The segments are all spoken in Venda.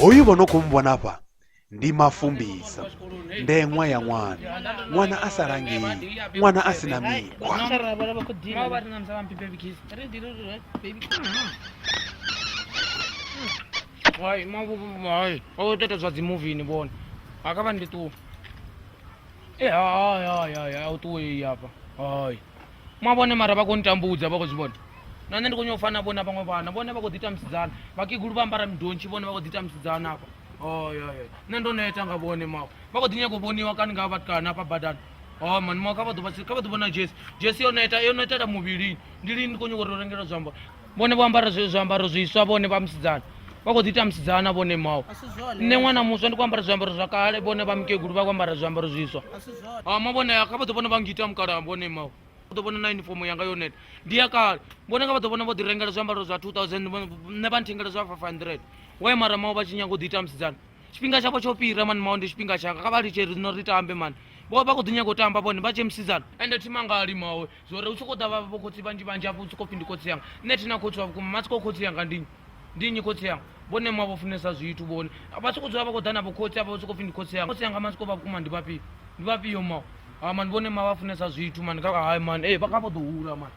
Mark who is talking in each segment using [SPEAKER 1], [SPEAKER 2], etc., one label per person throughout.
[SPEAKER 1] hoyu vho no khou muvhona afha ndi mafumbisa ndeṅwa ya ṅwana ṅwana a sa langei ṅwana a si na mikhwa Why, ma bu bu why? Oh, that was the movie in the one. Akaban di tu. Eh, ay ay ay ay, auto e yapa. Ay. mwa vhone mara vha khou ntambudza vha khou zwi vhona na nṋe ndi khou nyao fana vhona vhaṅwe vhana vhone vha khou ḓi tamisidzana vhakegulu vha ambara midontshi vhone vha khou ḓi tamisidzana afha oyo oh, nṋe ndo neta nga vhone mao vha khou ḓi nyako vhoniwa kani nga vhatukana hafha badani o oh, mani mao kha vha ḓo vhona jesi jesi yo neta yo netela muvhilini ndi lini ndi khou nyako uri o rengela zwiambaro vhone vho ambara zwiambaro zwiswa vhone vha musidzana vha khou ḓi ita musidzana vhone mawo nṋe ṅwana muswa ndi khou ambara zwiambaro zwa kale vhone vha mukegulu vha khou ambara zwiambaro zwiswa ama vhone kha vha ḓo vhona vha ngita mukala vhone mawo u ḓo vhona na uniform yanga yo neta ndi ya kale vhone nga vha ḓo vhona vho ḓi rengela zwiambaro zwa 2000 nṋe vha nthengela zwa 500 waye mara mawo vha tshi nyanga u ḓi ita musidzana tshifhinga tshavho tsho fhira mani mawo ndi tshifhinga tshanga kha vha litshe rino ri tambe mani vho vha khou ḓi nyaga u tamba vhone vha tshe musidzana ende thima nga limawe zwori u tshi khou ḓa vha vho khotsi vhanzhi vhanzhi afho u tshi khou pfhi ndi khotsi yanga nṋe thina khotsi wa vhukuma matsiko khotsi yanga ndi nnyi ndi nnyi khotsi yanga vhone mwa vho funesa zwithu vhone vha tshi khou dzula vha khou ḓa na vhokhotsi avha vha tshi khou pfhi ndi khotsi yanga khotsi yanga matsiko vha vhukuma ndi vhafhio ndi vhafhio mawo ha mani vhone ma vha funesa zwithu mani kha hai mani ee vha kha vho ḓo hula mani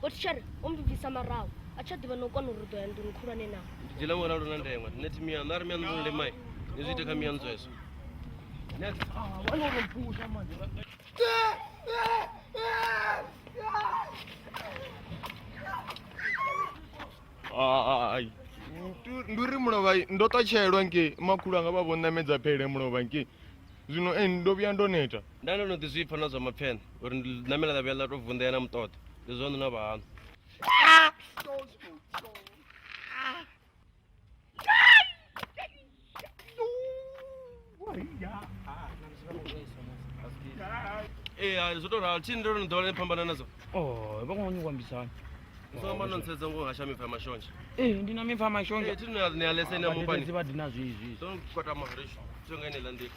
[SPEAKER 1] botshare o mbibvisa maraho a tsha ḓivha no kwana uri ḓo ya nḓuni khulwane na ndidzela ṅwana lu na ndengwa tine thi miyaṋu a ri miyaṋu vhulule mai ni zwi ite kha miyaṋu zwezwo ai ndi uri mulovha ndo ṱatshelwa nge makhulu anga vha vho ṋamedza phele mulovha nge zwino ndo vhuya ndo neta Nda no no ḓi zwipfa na zwa mapfene uri ndi namela ḽa vhuya ḽa tou vunḓea na muṱoḓo ndi zwaṋu na vhahaṋu ee hai zwo tou ralo tshini ndo no ḓowela ni phambana nadzo oh, vha khongonyi kuambisana soma no ntshetsa ngo hasha mipfa ya mashonzha ee eh, ndi na mipfa ya mashonzha ee eh, thi ni a leseni ya mupani vha dina zwizwi so kota maharisho tsho nga ine ḽa nḓila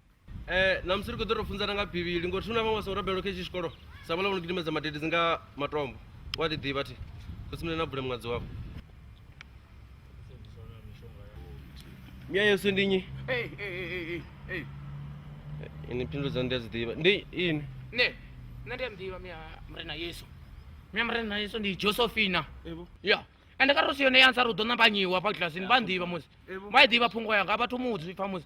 [SPEAKER 1] Eh, na musi ri khou ḓo ro funzana nga bivhili ngori thuna vhaṅwe vha songo rabelelo kha itshi tshikolo sa vhala vhono gidimedza madede dzi nga matombo wa ḓi ḓivha thi khosimile na bule muṅadzi wavho mia yesu ndi nyi Hey, hey, hey, hey, hey, hey. ini phindulo dzanu ndi a dzi ḓivha ndi ini Ne, nṋe ndi a muḓivha mia murena yesu mia murena yesu ndi josephina evo ya ende kha ro si yone ya ntsari u ḓo nambanyiwa hafha kilasini vha nḓivha musi evo vha i ḓivha phungo yanga a vhathu mudzi pfa musi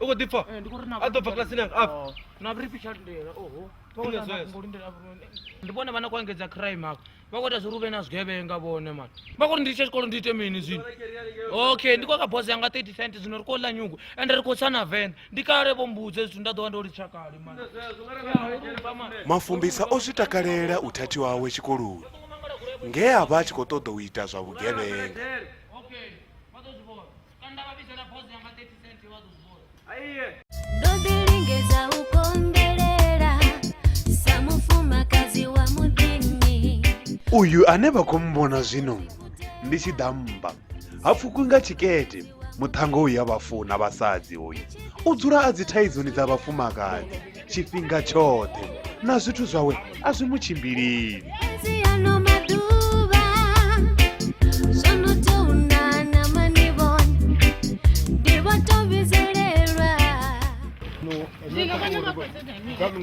[SPEAKER 1] u khou ḓi pfa Eh, ndi khou ri na- a ḓo bva kilasini yanga a Oh, na vhuri fhi tsha lindela oho Vha khou ita zwezwo. Ngo lindela vhone. ndi vhone vha na khou engedza crime afho vha khou ita zwa uri hu vhe na zwigevhenga vhone mani vha khou ri ndi litshe tshikolo ndi ite mini zwino okay ndi khou ka boss yanga 30 cent zwino ri khou ḽa nyungu ende ri khou tsha na venḓa ndi kale vho mbudze zwithu nda ḓo vha ndo litsha kale mani mafumbisa o zwi takalela u thathi wawe tshikoloni nge a vha a tshi khou ṱoḓa u ita zwa vhugevhenga Okay, vha ḓo zwi vhona. Kanda babisha na pose yanga 30 cent wa dubora. Aiye. Ndodilingeza ukongelela samufuma kazi wa mudini uyu ane vha khou mmbona zwino ndi tshi ḓa mmba ha pfukwi nga tshikete muṱhango uyu ya vhafuna vhasadzi uyu u dzula a dzi thaizoni dza vhafumakadzi tshifhinga tshoṱhe na zwithu zwawe a zwi mu tshimbilili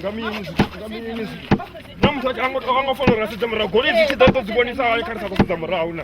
[SPEAKER 1] nga mini nga mini na muthu a nga fanela u sedza murahu goloi dzi tshi ḓa ḓo dzi vhonisa hani kha ri sa khou sedza murahu na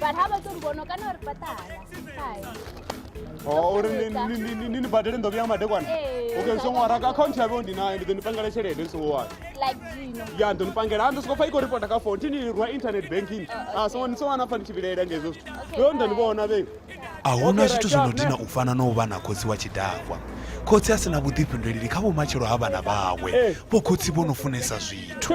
[SPEAKER 1] but ha vha ṱo ri vhono kana uri fhaṱa hala uri ni badele nḓovi ya madekwana okay so ṅwara ka akhaunthu ya vheo ndi nayo ndi ḓo ni pangela tshelede ndi songo wana ya ndo ni pangela ando soko fa iko ripota ka phone tini rwa internet banking a songo ni songo na pfa ni tshi vhilaela ngezwo zwithu ndo ndo ni vhona vhe a huna zwithu zwi no dina u fana na u vha na khotsi wa tshidakwa khotsi a si na vhuḓifhinduleli kha vhumatshelo ha vhana vhawe vho khotsi vho no funesa zwithu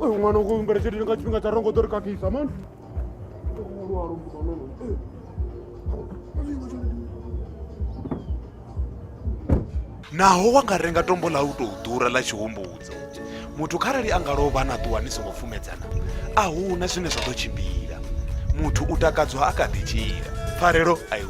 [SPEAKER 1] uyu mwana uku mbere chete nga chifhinga tsha rongo ḓo ri kakhisa mani naho wa nga renga tombo ḽa u tou ḓura ḽa tshihumbudzo muthu kharali a nga lovha na ṱuwa ni songo pfumedzana a hu na zwine zwa ḓo tshimbila muthu u takadzwa a kha ḓi tshila pfarelo a i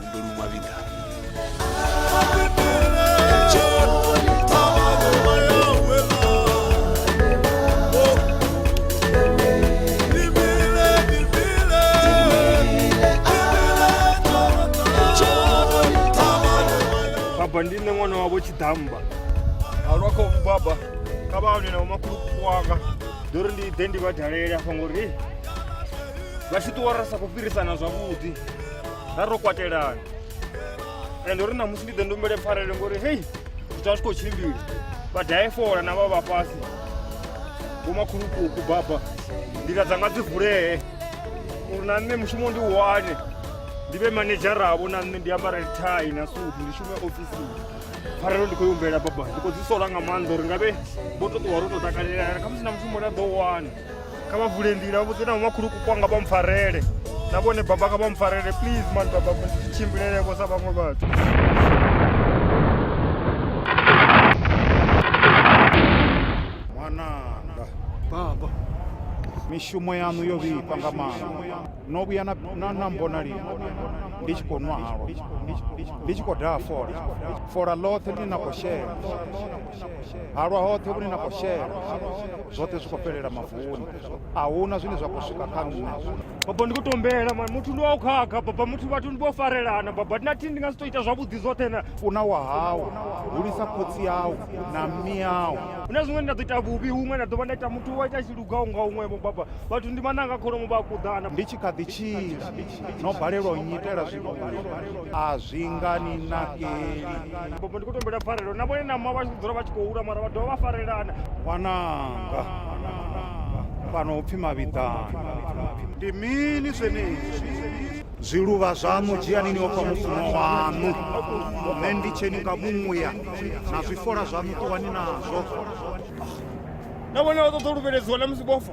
[SPEAKER 1] baba ndi nṋe ṅwana wavho tshiḓamba halwa kha umu baba kha vha hone na umakhulukuku wanga ndo ri ndi ḓe ndi vha dalele afha ngori vha tshi ṱuwa ra sa khou fhirisana zwavhuḓi ra ro kwatelana ende uri namusi ndi ḓe ndo mbele pfarele ngori hei zwithu a zwi khou tshimbila vhadaifola na vha vha fhasi vhomakhulukuku baba nḓila dzanga dzi vulee uri na nṋe mushumo ndi wane ndi vhe manedzharavo na nṋe ndi ambarele thai na sudu ndi shume ofisini pfarelo ndi khou i humbela baba ndi khou dzi sola nga maanḓa uri nga vhe vho to ṱuwa ro to takalelana khamusi na mushumo nda ḓo wana kha vha vule nḓila vha vhudze na vhomakhuluku kwanga vha mpfarele na vhone baba kha vha mpfarele please man baba tshimbulelevho sa vhaṅwe vhathu mwananga baba mishumo yaṋu yo vhifha nga maanḓa no vhuya na na mbona lini ndi tshi khou nwa halwa ndi tshi khou daha fola fola ḽoṱhe ḽi na khou shela halwa hoṱhe vhune na khou shela zwoṱhe zwi khou fhelela mavuni a huna zwine zwa khou swika kha nṋe baba ndi khou tombela mani muthu ndi wa u khakha baba muthu vhathu ndi vho farelana baba ndi na thini ndi nga si to ita zwavhuḓi zwoṱhe na funa wa hawu hulisa khotsi yawu na miyawu hu na zwiṅwe nda ḓo ita vhuvhi huṅwe nda ḓo vha nda ita muthu wa ita tshilugaho nga huṅwevho baba vhathu ndi mananga kholomo vha a kuḓana ndi tshi kha ḓi tshila no balelwa u nnyitela zwivhungu a zwi nga ni nakeli Bobo ndi khou tombela pfarelo na vhone na mma vha tshi dzula vha tshi khou hula mara vha dovha vha farelana ṅwananga fhano upfi mavhiḓani ndi mini zwenezwi zwiluvha zwaṋu dzhiani ni ofha mufuno waṋu nṋe ndi tsheni nga muya na zwifola zwaṋu ṱuwani nazwo na vhone vha ṱoḓa u luvheledziwa na musi vhofa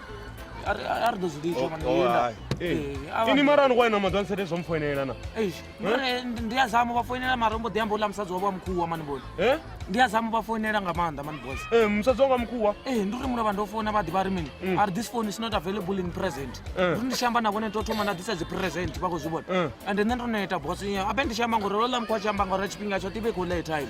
[SPEAKER 1] ari ari ḓo zwi litsha mani Oh, hai. Eh, avha- ini mara ni kwaina madzwa nsete zwo mpfoinela na Eish, mara ndi- ndi a zama vha foinela mara mbo ḓi amba uḽa musadzi wavho wa mukhuwa mani boy Eh? ndi a zama vha foinela nga maanḓa mani boy Eh, musadzi wanga mukhuwa ee ndi uri muno vha ndo founa vha ḓivha ri mini ari this phone is not available in present Mm. uri ndi tshi amba na vhone to thoma nda ḓisa dzi present vha khou zwi vhona Mm. ande nṋe ndo neta boss abe ndi tshi amba ngori lola mukhu a tshi amba ngori tshifhinga tsho tive khou lay time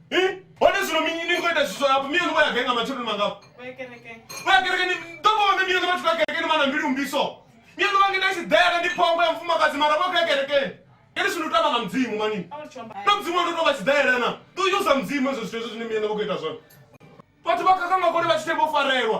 [SPEAKER 1] Eh? Hone zwino mi- ni khou ita zwiswa hafho mi yoni vho ya gai nga matsheloni mangafho Vho ya kerekeni. vho ya kerekeni ḓo vha hone mi yoni vhathu vha kerekeni vha na mbilu mbiso mi yoni vha ngita i si ḓele ndi phongo ya mufumakadzi mara vho ya kerekeni kene zwino u tamba nga mudzimu manini A uri tsho amba. na mudzimu wa ndo tou vha tshi ḓele na ḓo yusa mudzimu hezwo zwithu hezwo zwine mi yoni vho khou ita zwone vhathu vha khakha makone vha tshi thembo farelwa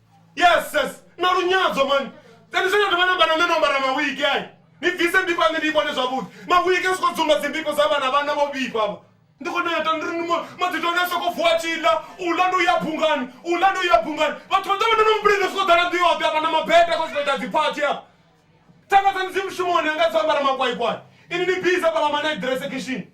[SPEAKER 1] yes yes na lunyadzo mani then zwe ndi vhana vhana no ambara mawigi ayi ni bvise mbiko ane ndi vhone zwavhuḓi mawigi a soko dzumba dzimbiko dza vhana vhana vho vhifha vha ndi khou neta ndi ri madzito ane a soko vuwa tshiḽa u ḽa ndi u ya bungani u ḽa ndi u ya bungani vhathu vha ḓovha ndono mubulini soko ḓala ndi yoṱhe afha na mabete ko soko ita dziphathi afha thanga dzanu dzi mushumoni anga dzo ambara makwaikwai ini ni biza fhala manaidrese kishini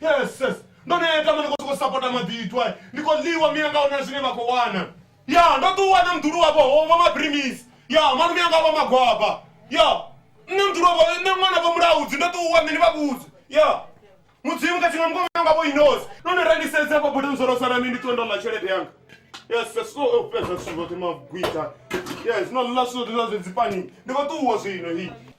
[SPEAKER 1] yes yes ndo neta mane khou sokou sapota maḓithu ai ndi khou ḽiwa miyanga huna zwine vha khou wana ya ndo ṱuwa na mdulu wavho hova mabrimisi ya manu miyanga vha magwaba ya nṋe mdulu wavho nṋe ṅwana vho mulaudzi ndo ṱuwa nṋe ni vha vhudze ya mudzimu khathihi na mukomana wanga vho inosi no ni rendisedza vho bule nzorosa na mini ndi ṱuwe ndo ḽa tshelede yanga yes yes so o fhedza zwithu zwoṱhe magwita yes no ḽa zwithu zwoṱhe zwa zwe dzipani ndi khou ṱuwa zwino hi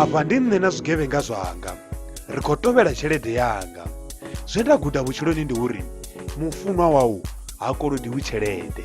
[SPEAKER 1] afha ndi nṋe na zwigevhenga zwanga ri khou tovhela tshelede yanga zwe nda guda vhutshiloni ndi uri mufunwa wau ha kolodiwi tshelede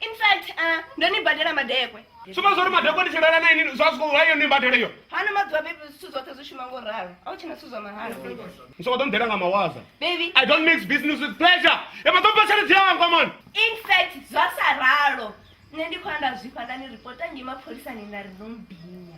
[SPEAKER 1] in fact uh, ndo ni badela madekwe suma zwo ri madekwe ndi tshilala na ini zwa zwo hayo ni badele yo hano maḓuvha bebi zwithu zwoṱhe zwi shuma ngo ralo a u tshina zwithu zwa mahala bebi ni soko ḓo nḓela nga mawaza bebi i don't mix business with pleasure e ma ḓo pa tshelede yanga man in fact zwa sa ralo nṋe ndi khou anda zwifha nda ni ripota ngei mapholisani nda ri no mbinya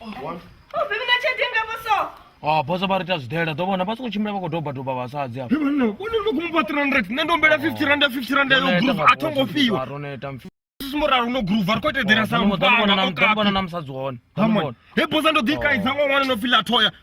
[SPEAKER 1] one Ubhimi na chete nga boso. Ah, boso vha ri ita zwidela ḓo vhona vha songo tshimbila vha khou doba doba vhasadzi avho Bibana, kone no kumba 300, nṋe ndo mbela 50 rand, 50 rand yo groove, a tho ngo fhiwa. roneta mfi Sisi muralo no groove, a ri khou ita eḓela sa ḓo muvhona mupanga, na- o ḓo muvhona kapi. na musadzi hone Ḓo Come on. muvhona. He bosa ndo ḓi kaidza ngo ṅwana no fila thoya.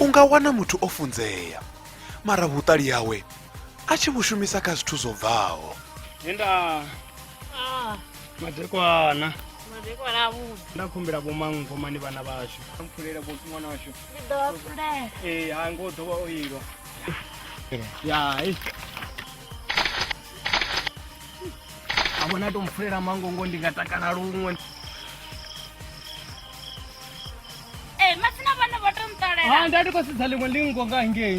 [SPEAKER 1] u nga wana muthu o funzea mara vhuṱali hawe a tshi vhu shumisa kha zwithu zwo bvaho Linda. Ah, madekwana madekwana avhuḓi nda khumbela vhomangomani vhana vhashu mpfulela vho ṅwana washu ndi ḓo vha fulela ee ha ngo ḓo vha o ilwa ya e a vhona to mpfulela mangongo ndi nga takala luṅwe ee matsina vhana vho to nṱolela ha nda ndi khou sedza ḽiṅwe ḽingo nga ngei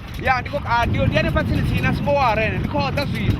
[SPEAKER 1] ya ndi khou ah, ndi ndi hanefha tsini tsini na songo wara ene ndi khou ḓa zwino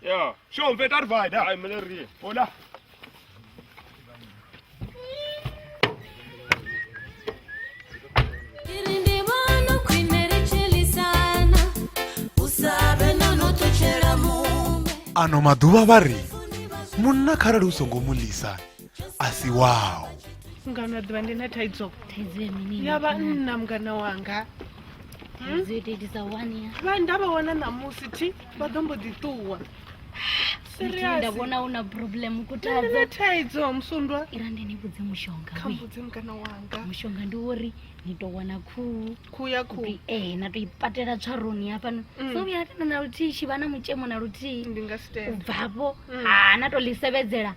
[SPEAKER 1] Ja. Schon, wird er weiter. Ein Miller hier. Oder? ano maḓuvha vha ri munna kharali u songo mu lisa a si wao mngano a ḓuvha ndi na thaidzo ya vhanna mngana wanga vha nda vha wana ṋamusi thi vha ḓo mbo ḓi ṱuwa nda vhona una problem kutadza thaidzo musundwa ira ndi ni vhudze mushonga kha mbudze mukana wanga mushonga ndi uri ni to wana khuhu khuhu ya khuhu eh na to ipatela tswaroni hafhano mm. so vhuya tena na luthihi tshi vha na mutshemo na luthihi ndi nga sitenda ubvafho mm. ha na to ḽi sevedzela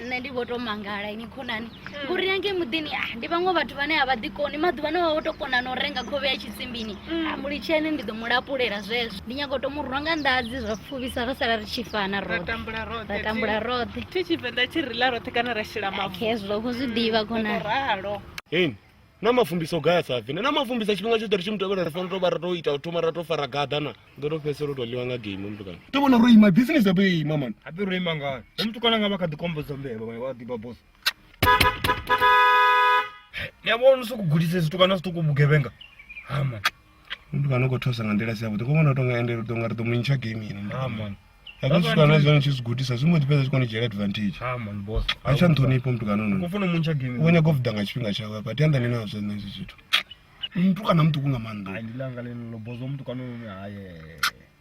[SPEAKER 1] nṋe ndi vho to mangala ini khonani ngori hmm. yange muḓini ah, ndi vhaṅwe vhathu vhane a vha ḓi koni maḓuvha ne vha vho to kona na u renga khovhe ya tshisimbini hmm. ah, mulitshene ndi ḓo mu lapulela zwezwo ndi nyago to mu rwa nga nḓadzi zwa pfuvisa ra sala ri tshi fana ra tambula roṱhe thi tshivenḓa tshi ri la roṱhe kana ra shela mavu hezwo ko zwi ḓivha khonani na mafumbisa o gaya sa fine na mafumbisa tshifhinga tshoṱhe ri tshi mutevhela ri fanela to vha ra to ita u thoma ra to fara gaḓa na ndo to fhedzisela u to ḽiwa nga game mutukana to vhona ro ima business yapo yo ima mani hape ro ima ngani he mutukana nga vha kha ḓi kombodza mbevha vhae vha ḓiba boss ni a vhona u sokou gudise zwitukana zwiṱuku vhugevhenga hama Ndi kana ukho thusa nga nḓila si yavhuḓi ngo vhona u tonga ende tonga ri ḓo mu ntsha game ini ndi Amen. kana zwi kana zwi tshi zwi gudisa zwi mbo ḓi fhedza zwi koni dzhiela advantage Amen boss. a tsha nṱhonifho muthu kana no Kufuna muntsha game. u nyaga u vuda nga tshifhinga tshawe hafha tianda ni nazwo nṋe izwi zwithu muthu kana muṱuku nga maanḓa Ai ndilanga lenelo boss omuntu kana uno haye.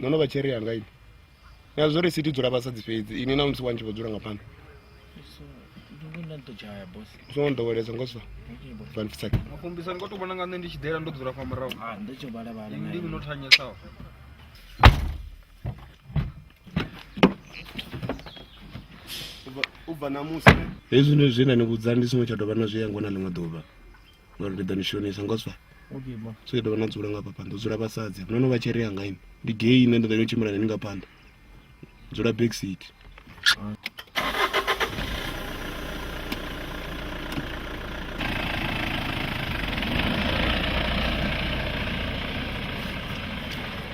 [SPEAKER 1] no no vha tsheri yanga ini na zwo ri sithi dzula vha sa dzi fhedzi ini na musi wanzhi vho dzula nga phanḓa songo nḓowelesa ngo sa vanfisake makumbisani ko to vhona nga nṋe ndi tshi ḓela ndo dzula fa murahu ah, ndi no thanyesaho u bva na musi hezwi zwine ni vhudza ndi songo tsha dovha na zwi yango na ḽiṅwe ḓuvha ngori ndi ḓo ni shonisa ngo swa so ke ḓo vha na dzula nga phanḓa dzula vhasadzi no no vha tsheri yanga ini ndi gei ine nda ḓo yo tshimbila nani nga phanḓa dzula back seat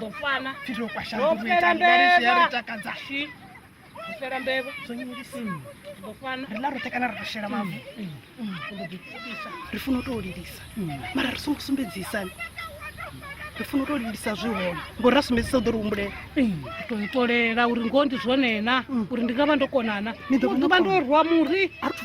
[SPEAKER 1] ḓo fana fhiro kwa shango Ro fhela ri ita ri mbevha. takadza shi u fhela mbevha zwo nyelisa ḓo fana ri la roṱhe kana ri tou shela mavu u ḓo ḓipfukisa ri funa u tou lilisa mara ri songo sumbedzisani ri funa u tou lilisa zwi hone ngori ra sumbedzisa u ḓo ri humbulela to itolela uri ngoho ndi zwone na uri ndi nga vha ndo konana Ni ḓo vha no ḓuvha ndo kona. rwa muri a ri thu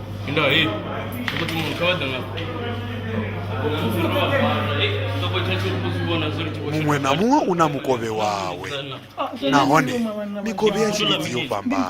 [SPEAKER 1] Ndio hii. Tuko tumemkawaza na muṅwe na muṅwe u na mukovhe wawe nahone mikovhe ya tshilidzi yo fhambana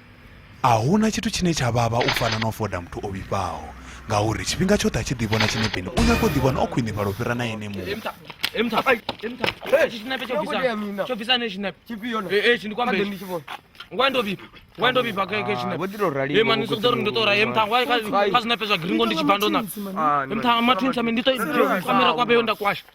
[SPEAKER 1] A hu na tshithu tshine tsha vhavha u fana na u foda muthu o vhifhaho ngauri tshifhinga tshoṱhe a tshi ḓivhona tshinepeni u nyaga u ḓivhona o khwinifhala u fhira na ene muṋe ngwa ndo vhifha ngwa ndo vhifha kha kha tshine vho ḓi to rali he mani sokho ndo to rali mtha ngwa kha kha zwinepe zwa gringo ndi tshi bando na mtha ma twins ame ndi to kamera kwa beyo nda kwasha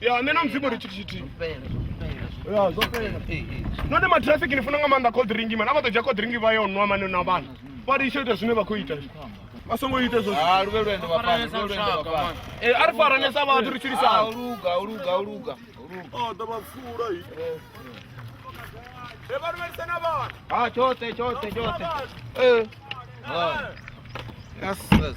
[SPEAKER 1] ya nṋe na mudzimu ri tshithu tshithihi ya zwo fhela none matrafiki ni funa nga maanḓa cold ringi mani a vha ḓo dzhia cold ringi vha yo nwa mani na vhana vha ri ita zwine vha khou ita vha songo ita ezwo ah, eh, a ri faranesa vhathu ri tshilisana oh, ah, tshoṱhe tshoṱhe tshoṱhe eh. ah. yes yes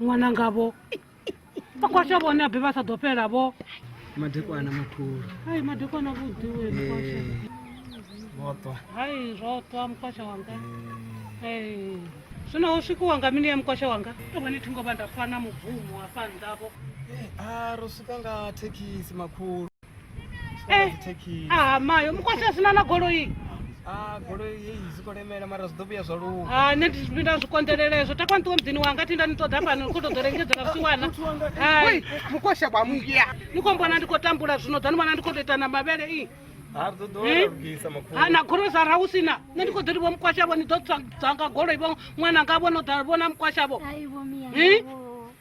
[SPEAKER 1] ṅwana ngavho vhakwasha vhone abe vha sa ḓo fhela vho madekwana makhulu hai madekwana vhuḓiwe mkwasha vhoṱwa hai zwoṱwa mkwasha wanga ee zwino ho swikiwa nga mini ya mkwasha wanga to vhone thi ngo vha nda fana mubvumo hafha nnḓavho a ro swika nga thekhisi makhulu Eh, ah, mayo mukwashe asina na goloi ah, goloi yeyi zikolemela mara zidovhuya zwa luwa ah, nṋe ndi zwifhinda zwi konḓelela ezwo takwa nṱuwe muḓini wanga thi nda ni ṱoḓa fhano ni khou tou ḓo lengedzela vhusiwana hai mukwasha kwa muya ni khou mbona ndi khou tambula zwino ḓa ni vhona ndi khou tou ita na mavhele i na gorosa ra u sina nṋe ndi khou ḓo livho mukwashavho ni ḓo dzanga goloi vho ṅwana ngavho no ḓa vhona mukwashavho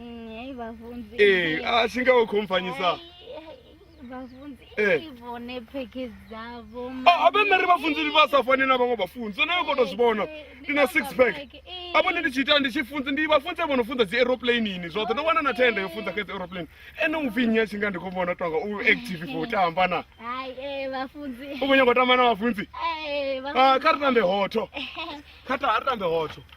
[SPEAKER 1] Mm, yayi bavunzi Eh, asi nga u khompfanyisa bavunzi Eh. i vhone pheke dzavho Ah, abe nṋe ri vhafunzi ndi vha sa fani na vhaṅwe vhafunzi onayo u koto zwi vhona ndi na six pack apo ndi ndi tshi ita ndi tshi funza ndi vhafunzi vho no funza dzi aeroplaneini zwoṱhe ndo wana na thenda yo funza kha dzi aeroplane ene u pfi nnyi a tshi nga ndi khou vhona tonga u active khou tamba na hayi eh, bavunzi u khou nyanga u tamba na vhafunzi Eh, Ah, bavunzi kha ri tambe hotho kha ta ha ri tambe hotho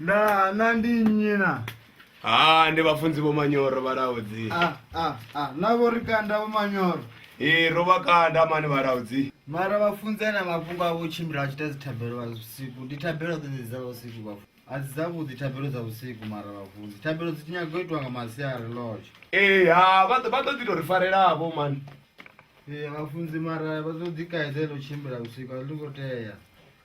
[SPEAKER 1] ndaa na ndi nnyi na ha ndi vhafunzi vho manyoro vhalaudzi a a a na vho ri kanda vho manyoro ee ro vha kanda mani vhalaudzi mara vhafunzi ana mafhungo avho u tshimbila a tshi ita dzithabelo vha vhusiku ndi thabelo dzedzi dza vhusiku vhafu a dzi dzavhuḓi thabelo dza vhusiku mara vhafunzi thabelo dzi nyaga u itiwa nga masiari lotsho ee ha vha ḓo- vha ḓo ḓi tou ri farelavho mani Ee, vhafunzi mara vha ḓo ḓi kaidza ḽo tshimbila vhusiku a ḽi ngo tea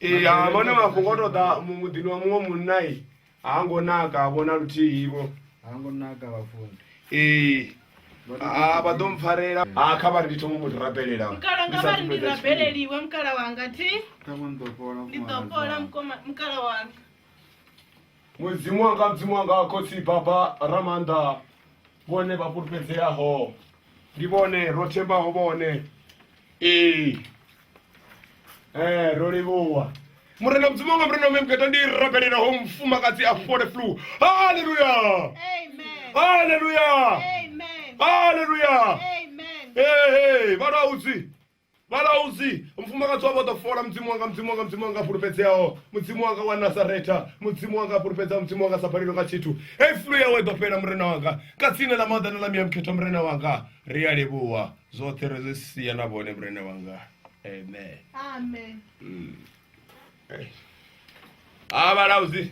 [SPEAKER 1] ee ha vhone mafhungo o toḓa mu- muḓini wa muṅwe munna i ha ngo naka ha vhona luthihi vho ha ngo naka vhafunzi ee ha vha ḓo mpfarela ha kha vha ri ndi thoma mu rabelela mukala nga vha ri ndi rabeleliwe mukala wanga thi kha vho ni ḓo fhola ndi ḓo fhola mukoma- mukala wanga Mudzimu wanga, Mudzimu wanga, Khotsi Baba Ramaanḓa, vhone vha fhulufhedzeaho, ndi vhone ro thembaho vhone. Ee, ee, ro livhuwa. Murena Mudzimu wanga, Murena mme muketa ndi rabelelaho mufumakadzi a fole flu. Haleluya! Haleluya! Haleluya! Ee, ee, vha lwa udzi. vhalauzi mufumakadzi wavho ḓo fola mudzimu wanga mudzimu wanga mudzimu wanga fhulufhedzeaho mudzimu wanga wa nasaretha mudzimu wanga fhulufhedzaho mudzimu wanga sa balelwe nga tshithu hei fulu yawe ḓo fhela murena wanga nga tsine ḽa maḓana ḽa miyamukhetha murena wanga ri a livhuwa zwoṱhe ri zwi sia na vhone murena wanga amen a hmm. vhalauzi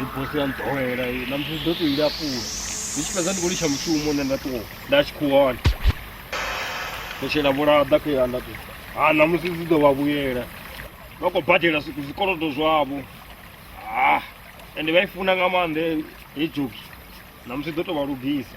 [SPEAKER 1] i bosi ya nḓowela i na musi ḓo tou i lapula ndi tshi fhedza ndi khou litsha mushumo nṋe nda ṱuwa nda tshi khou wana ndo shela vhulaḓa kha iḽa nda ṱuwa ha na musi dzi ḓo vha vhuyela vha khou badela zwi- zwikolodo zwavho ha ende vha i funa nga maanḓa he- he joki na musi ḓo tou vha lugisa